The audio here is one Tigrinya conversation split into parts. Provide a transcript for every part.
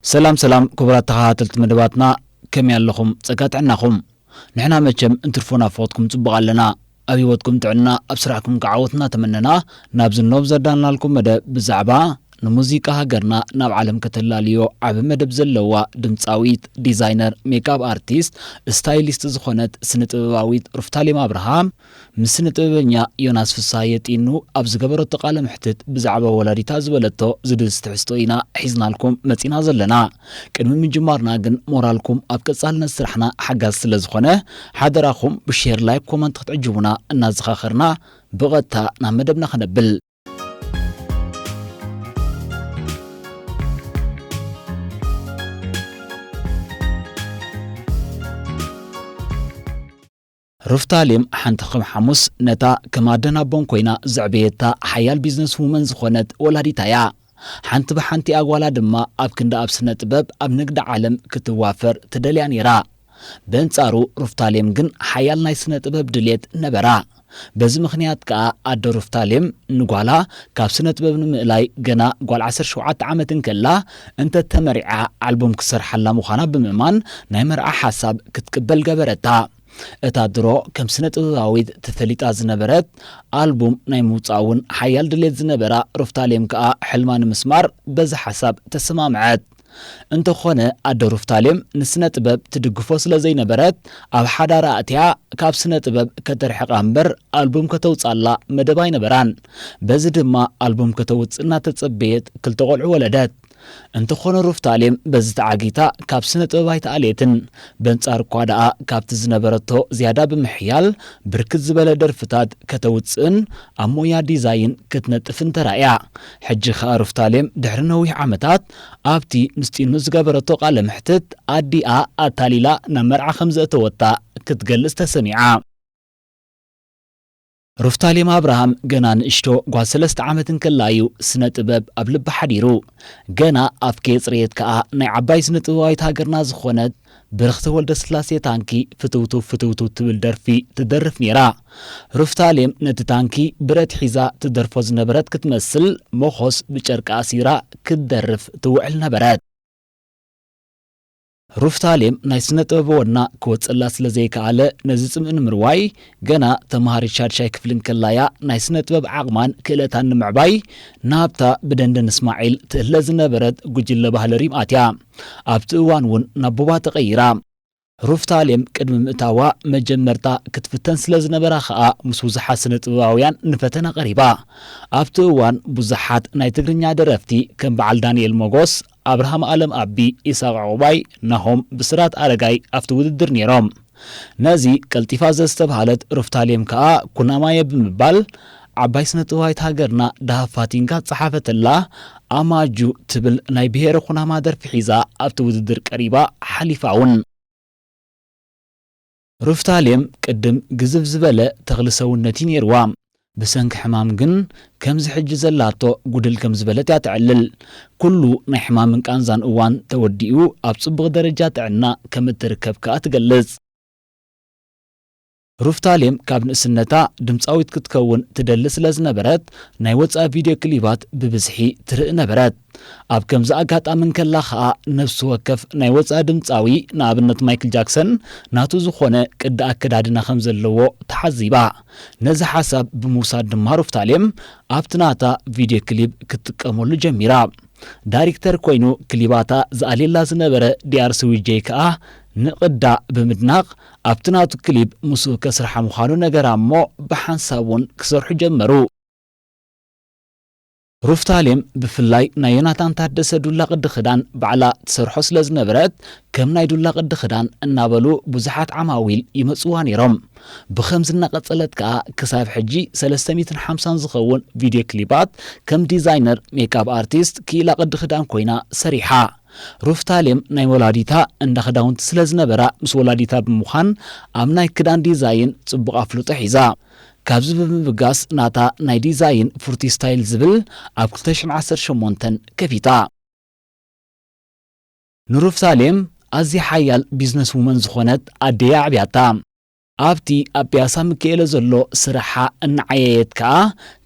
ሰላም ሰላም ኩቡራት ተኻታተልቲ መደባትና ከመይ ኣለኹም ጸጋ ጥዕናኹም ንሕና መቸም እንትርፎ ናብ ፈቕድኩም ጽቡቕ ኣለና ኣብ ሂወትኩም ጥዕና ኣብ ስራሕኩም ከኣ ዓወት እናተመነና ናብዚ ኖብ ዘዳለናልኩም መደብ ብዛዕባ ንሙዚቃ ሃገርና ናብ ዓለም ከተላልዮ ዓቢ መደብ ዘለዋ ድምጻዊት ዲዛይነር ሜክኣብ ኣርቲስት እስታይሊስት ዝኾነት ስነ ጥበባዊት ሩፍታሌም ኣብርሃ ምስ ስነ-ጥበበኛ ዮናስ ፍስሃየ ጢኑ ኣብ ዝገበረቶ ቃለ መሕትት ብዛዕባ ወላዲታ ዝበለቶ ዝድህስስ ትሕዝቶ ኢና ሒዝናልኩም መጺና ዘለና። ቅድሚ ምጅማርና ግን ሞራልኩም ኣብ ቀጻልነት ስራሕና ሓጋዚ ስለ ዝኾነ ሓደራኹም ብሼር ላይክ ኮመንት ክትዕጅቡና እናዘኻኸርና ብቐጥታ ናብ መደብና ክነብል። ሩፍታሌም ሓንቲ ከም ሓሙስ ነታ ከም ኣደን ኣቦን ኮይና ዘዕበየታ ሓያል ቢዝነስ ውመን ዝኾነት ወላዲታ እያ። ሓንቲ ብሓንቲኣ ጓላ ድማ ኣብ ክንዲ ኣብ ስነ ጥበብ ኣብ ንግዲ ዓለም ክትዋፈር ትደልያ ነይራ። በንጻሩ ሩፍታሌም ግን ሓያል ናይ ስነ ጥበብ ድሌት ነበራ። በዚ ምኽንያት ከኣ ኣደ ሩፍታሌም ንጓላ ካብ ስነ ጥበብ ንምእላይ ገና ጓል ዓሰርተ ሸውዓተ ዓመት እንከላ እንተ ተመሪዓ ኣልቡም ክትሰርሓላ ምዃና ብምእማን ናይ መርዓ ሓሳብ ክትቅበል ገበረታ። እታ ድሮ ከም ስነ-ጥበባዊት ተፈሊጣ ዝነበረት ኣልቡም ናይ ምውጻእ እውን ሓያል ድሌት ዝነበራ ሩፍታሌም ከኣ ሕልማ ንምስማር በዚ ሓሳብ ተሰማምዐት። እንተኾነ ኣደ ሩፍታሌም ንስነ-ጥበብ ትድግፎ ስለ ዘይነበረት ኣብ ሓዳራ ኣእትያ ካብ ስነ-ጥበብ ከተርሕቃ እምበር ኣልቡም ከተውጻላ መደብ ኣይነበራን። በዚ ድማ ኣልቡም ከተውጽእ እናተጸበየት ክልተ ቆልዑ ወለደት። እንተኾነ ሩፍታሌም በዚ ተዓጊታ ካብ ስነ ጥበብ ኣይተኣልየትን። በንጻሩ እኳ ደኣ ካብቲ ዝነበረቶ ዝያዳ ብምሕያል ብርክት ዝበለ ደርፍታት ከተውጽእን ኣብ ሞያ ዲዛይን ክትነጥፍን ተራእያ። ሕጂ ከኣ ሩፍታሌም ድሕሪ ነዊሕ ዓመታት ኣብቲ ምስ ጢኑ ዝገበረቶ ቃለ መሕትት ኣዲኣ ኣታሊላ ናብ መርዓ ከም ዘእተወታ ክትገልጽ ተሰሚዓ። ሩፍታሌም ኣብርሃም ገና ንእሽቶ ጓል ሰለስተ ዓመት እንከላ እዩ ስነ ጥበብ ኣብ ልባ ሓዲሩ። ገና ኣፍ ከየጽረየት ከኣ ናይ ዓባይ ስነ ጥበባዊት ሃገርና ዝኾነት ብርኽቲ ወልደስላሴ ታንኪ ፍትውትው ፍትውትው ትብል ደርፊ ትደርፍ ኔራ። ሩፍታሌም ነቲ ታንኪ ብረት ሒዛ ትደርፎ ዝነበረት ክትመስል ሞኾስ ብጨርቂ ኣሲራ ክትደርፍ ትውዕል ነበረት። ሩፍታሌም ናይ ስነ ጥበብ ወና ክወጸላ ስለ ዘይከኣለ ነዚ ጽምኢ ንምርዋይ ገና ተመሃሪት ሻድሻይ ክፍሊ እንከላ እያ ናይ ስነ ጥበብ ዓቕማን ክእለታን ንምዕባይ ናብታ ብደንደን እስማዒል ትእለ ዝነበረት ጉጅለ ባህሊ ሪም ኣትያ። ኣብቲ እዋን እውን ናብ ቡባ ተቐይራ። ሩፍታሌም ቅድሚ ምእታዋ መጀመርታ ክትፍተን ስለ ዝነበራ ከኣ ምስ ብዙሓት ስነ ጥበባውያን ንፈተና ቀሪባ። ኣብቲ እዋን ብዙሓት ናይ ትግርኛ ደረፍቲ ከም በዓል ዳንኤል ሞጎስ፣ ኣብርሃም ኣለም ኣቢ፣ ኢሳቕ ዑቕባይ፣ ናሆም ብስራት ኣረጋይ ኣብቲ ውድድር ነይሮም። ነዚ ቀልጢፋ ዘዝተብሃለት ሩፍታሌም ከኣ ኩናማየ ብምባል ዓባይ ስነጥበባዊት ሃገርና ደሃብ ፋቲንካ ዝጸሓፈትላ ኣማጁ ትብል ናይ ብሄረ ኩናማ ደርፊ ሒዛ ኣብቲ ውድድር ቀሪባ ሓሊፋ'ውን። ሩፍታሌም ቅድም ግዝፍ ዝበለ ተኽሊ ሰውነት እዩ ነይርዋ። ብሰንኪ ሕማም ግን ከምዚ ሕጂ ዘላቶ ጉድል ከም ዝበለት እያ ተዕልል። ኩሉ ናይ ሕማምን ቃንዛን እዋን ተወዲኡ ኣብ ጽቡቕ ደረጃ ጥዕና ከም እትርከብ ከኣ ትገልጽ። ሩፍታሌም ካብ ንእስነታ ድምጻዊት ክትከውን ትደሊ ስለ ዝነበረት ናይ ወጻኢ ቪድዮ ክሊባት ብብዝሒ ትርኢ ነበረት። ኣብ ከምዚ ኣጋጣሚ እንከላ ከኣ ነፍሲ ወከፍ ናይ ወጻኢ ድምጻዊ፣ ንኣብነት ማይክል ጃክሰን፣ ናቱ ዝኾነ ቅዲ ኣከዳድና ከም ዘለዎ ተዓዚባ። ነዚ ሓሳብ ብምውሳድ ድማ ሩፍታሌም ኣብቲ ናታ ቪድዮ ክሊብ ክትጥቀመሉ ጀሚራ። ዳሪክተር ኮይኑ ክሊባታ ዝኣልየላ ዝነበረ ዲኣርሲ ዊጀይ ከኣ ንቅዳ ብምድናቅ ኣብቲ ናቱ ክሊብ ምስኡ ከስርሓ ምዃኑ ነገራ እሞ ብሓንሳብ እውን ክሰርሑ ጀመሩ። ሩፍታሌም ብፍላይ ናይ ዮናታን ታደሰ ዱላ ቅዲ ክዳን ባዕላ ትሰርሖ ስለ ዝነበረት ከም ናይ ዱላ ቅዲ ክዳን እናበሉ ብዙሓት ዓማዊል ይመጽዋ ኔሮም። ብኸምዚ እናቐጸለት ከኣ ክሳብ ሕጂ ሰለስተ ሚእትን ሓምሳን ዝኸውን ቪድዮ ክሊባት ከም ዲዛይነር ሜክኣብ ኣርቲስት ክኢላ ቅዲ ክዳን ኮይና ሰሪሓ። ሩፍታሌም ናይ ወላዲታ እንዳ ክዳውንቲ ስለ ዝነበራ ምስ ወላዲታ ብምዃን ኣብ ናይ ክዳን ዲዛይን ጽቡቕ ኣፍልጦ ሒዛ። ካብዚ ብምብጋስ ናታ ናይ ዲዛይን ፉርቲ ስታይል ዝብል ኣብ ክልተ ሽሕን ዓሰርተ ሸሞንተን ከፊታ። ንሩፍታሌም ኣዝያ ሓያል ቢዝነስ ውመን ዝኾነት ኣደይ ኣዕብያታ። ኣብቲ ኣብ ፒያሳ ምኪኤለ ዘሎ ስራሓ እናዓየየት ከኣ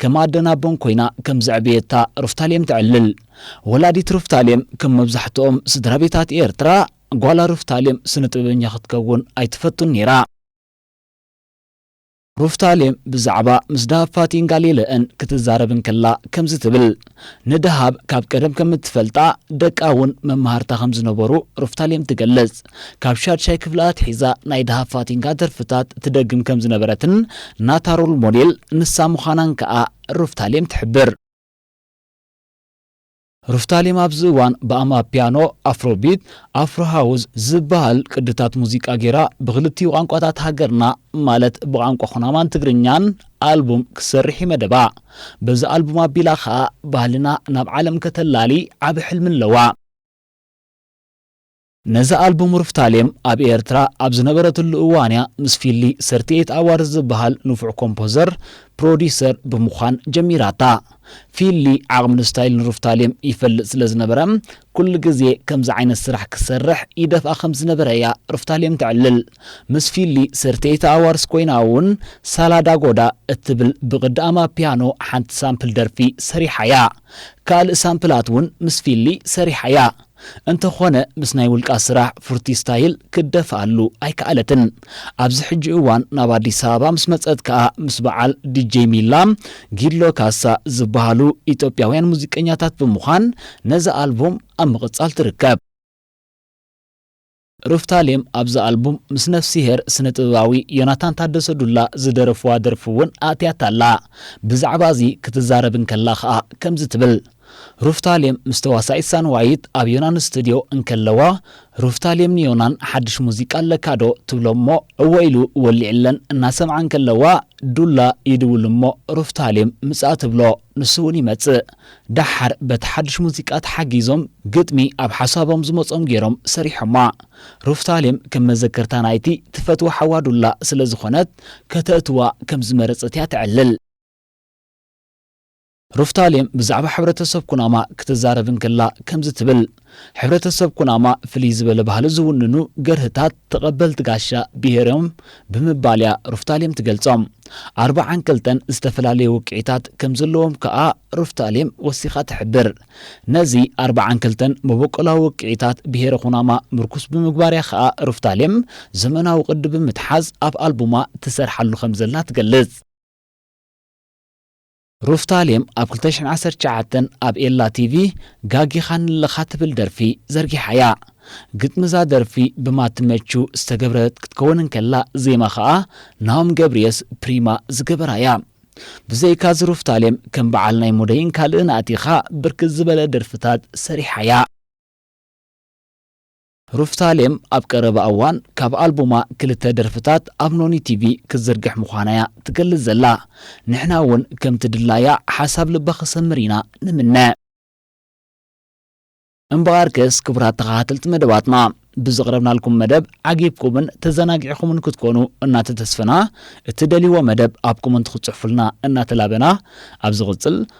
ከም ኣደን ኣቦን ኮይና ከም ዘዕበየታ ሩፍታሌም ተዕልል። ወላዲት ሩፍታሌም ከም መብዛሕትኦም ስድራቤታት ኤርትራ ጓላ ሩፍታሌም ስነ-ጥበበኛ ክትከውን ኣይትፈቱን ነይራ። ሩፍታሌም ብዛዕባ ምስ ደሃብ ፋቲን ጋሊለእን ክትዛረብ እንከላ ከምዚ ትብል፣ ንደሃብ ካብ ቀደም ከም እትፈልጣ፣ ደቃ እውን መማህርታ ከም ዝነበሩ ሩፍታሌም ትገልጽ። ካብ ሻድሻይ ክፍሊ ኣትሒዛ ናይ ደሃብ ፋቲንጋ ደርፍታት ትደግም ከም ዝነበረትን ናታ ሮል ሞዴል ንሳ ምዃናን ከኣ ሩፍታሌም ትሕብር። ሩፍታሊም ኣብዚ እዋን ብኣማፒያኖ፣ ኣፍሮቢት፣ ኣፍሮ ሃውዝ ዝበሃል ቅድታት ሙዚቃ ገይራ ብኽልቲኡ ቋንቋታት ሃገርና ማለት ብቛንቋ ኩናማን ትግርኛን ኣልቡም ክትሰርሕ'ዩ መደባ። በዚ ኣልቡም ኣቢላ ከኣ ባህልና ናብ ዓለም ከተላሊ ዓቢ ሕልሚ ኣለዋ። ነዛ ኣልቡም ሩፍታሌም ኣብ ኤርትራ ኣብ ዝነበረትሉ እዋን'ያ ምስ ፊሊ ሰርቲ ኤይት ኣዋርስ ዝብሃል ንፉዕ ኮምፖዘር፣ ፕሮዲዩሰር፣ ብምዃን ጀሚራታ። ፊሊ ዓቕምን ስታይልን ሩፍታሌም ይፈልጥ ስለ ዝነበረ ኩሉ ግዜ ከምዚ ዓይነት ስራሕ ክሰርሕ ይደፍኣ ከም ዝነበረ'ያ ሩፍታሌም ተዕልል። ምስ ፊሊ ሰርቲ ኤይት ኣዋርስ ኮይና'ውን ሳላ ዳ ጎዳ እትብል ብቕዲ ኣማፒያኖ ሓንቲ ሳምፕል ደርፊ ሰሪሓ'ያ። ካልእ ሳምፕላት'ውን ምስ ፊሊ ሰሪሓ'ያ። እንተኾነ ምስ ናይ ውልቃ ስራሕ ፉርቲ ስታይል ክትደፍኣሉ ኣይከኣለትን። ኣብዚ ሕጂ እዋን ናብ ኣዲስ ኣበባ ምስ መጸት ከኣ ምስ በዓል ዲጀይ ሚላ፣ ጊሎ ካሳ ዝበሃሉ ኢትዮጵያውያን ሙዚቀኛታት ብምዃን ነዛ ኣልቡም ኣብ ምቕጻል ትርከብ። ሩፍታሌም ኣብዛ ኣልቡም ምስ ነፍሲሄር ስነ-ጥበባዊ ዮናታን ታደሰ ዱላ ዝደረፍዋ ደርፊ እውን ኣእትያታ ኣላ። ብዛዕባ እዚ ክትዛረብ እንከላ ከኣ ከምዚ ትብል፣ ሩፍታሌም ምስ ተዋሳኢት ሳንዋይት ኣብ ዮናን ስቱድዮ እንከለዋ ሩፍታሌም ንዮናን ሓድሽ ሙዚቃ ኣለካዶ ትብሎ እሞ እወ ኢሉ ወሊዕለን እናሰምዓ እንከለዋ ዱላ ይድውል እሞ ሩፍታሌም ምጻእ ትብሎ። ንሱ እውን ይመጽእ። ደሓር በቲ ሓድሽ ሙዚቃ ተሓጊዞም ግጥሚ ኣብ ሓሳቦም ዝመጾም ገይሮም ሰሪሖማ። ሩፍታሌም ከም መዘከርታ ናይቲ ትፈትዎ ሓዋ ዱላ ስለ ዝኾነት ከተእትዋ ከም ዝመረጸት እያ ተዕልል። ሩፍታሌም ብዛዕባ ሕብረተሰብ ኩናማ ክትዛረብ እንከላ ከምዚ ትብል። ሕብረተሰብ ኩናማ ፍልይ ዝበለ ባህሊ ዝውንኑ ገርህታት ተቐበልቲ ጋሻ ብሄር'ዮም ብምባል'ያ ሩፍታሌም ትገልጾም። ኣርብዓን ክልተን ዝተፈላለዩ ውቅዒታት ከም ዘለዎም ከኣ ሩፍታሌም ወሲኻ ትሕብር። ነዚ ኣርብዓን ክልተን መበቆላዊ ውቅዒታት ብሄረ ኩናማ ምርኩስ ብምግባር'ያ ከኣ ሩፍታሌም ዘመናዊ ቅዲ ብምትሓዝ ኣብ ኣልቡማ ትሰርሓሉ ከም ዘላ ትገልጽ። ሩፍታሌም ኣብ ክልተ ሽሕን ዓሰርተ ትሽዓተን ኣብ ኤላ ቲቪ ጋጊኻኒ ኣለኻ ትብል ደርፊ ዘርጊሓ እያ። ግጥሚ እዛ ደርፊ ብማቲ መቹ ዝተገብረት ክትከውን እንከላ ዜማ ከኣ ናሆም ገብርየስ፣ ፕሪማ፣ ዝገበራ እያ። ብዘይካ እዚ ሩፍታሌም ከም በዓል ናይ ሙደይን ካልእን ኣእቲኻ ብርክት ዝበለ ደርፍታት ሰሪሓ እያ። ሩፍታሌም ኣብ ቀረባ እዋን ካብ ኣልቡማ ክልተ ደርፍታት ኣብ ኖኒ ቲቪ ክትዝርግሕ ምዃና'ያ ትገልጽ ዘላ። ንሕና'ውን ከምቲ ድላያ ሓሳብ ልባ ክሰምር ኢና ንምነ። እምበኣርከስ ክቡራት ተኸታተልቲ መደባትና፣ ብዘቕረብናልኩም መደብ ዓጊብኩምን ተዘናጊዕኹምን ክትኮኑ እናተተስፈና፣ እትደልይዎ መደብ ኣብ ኮመንት ክትጽሕፉልና እናተላበና፣ ኣብ ዝቕጽል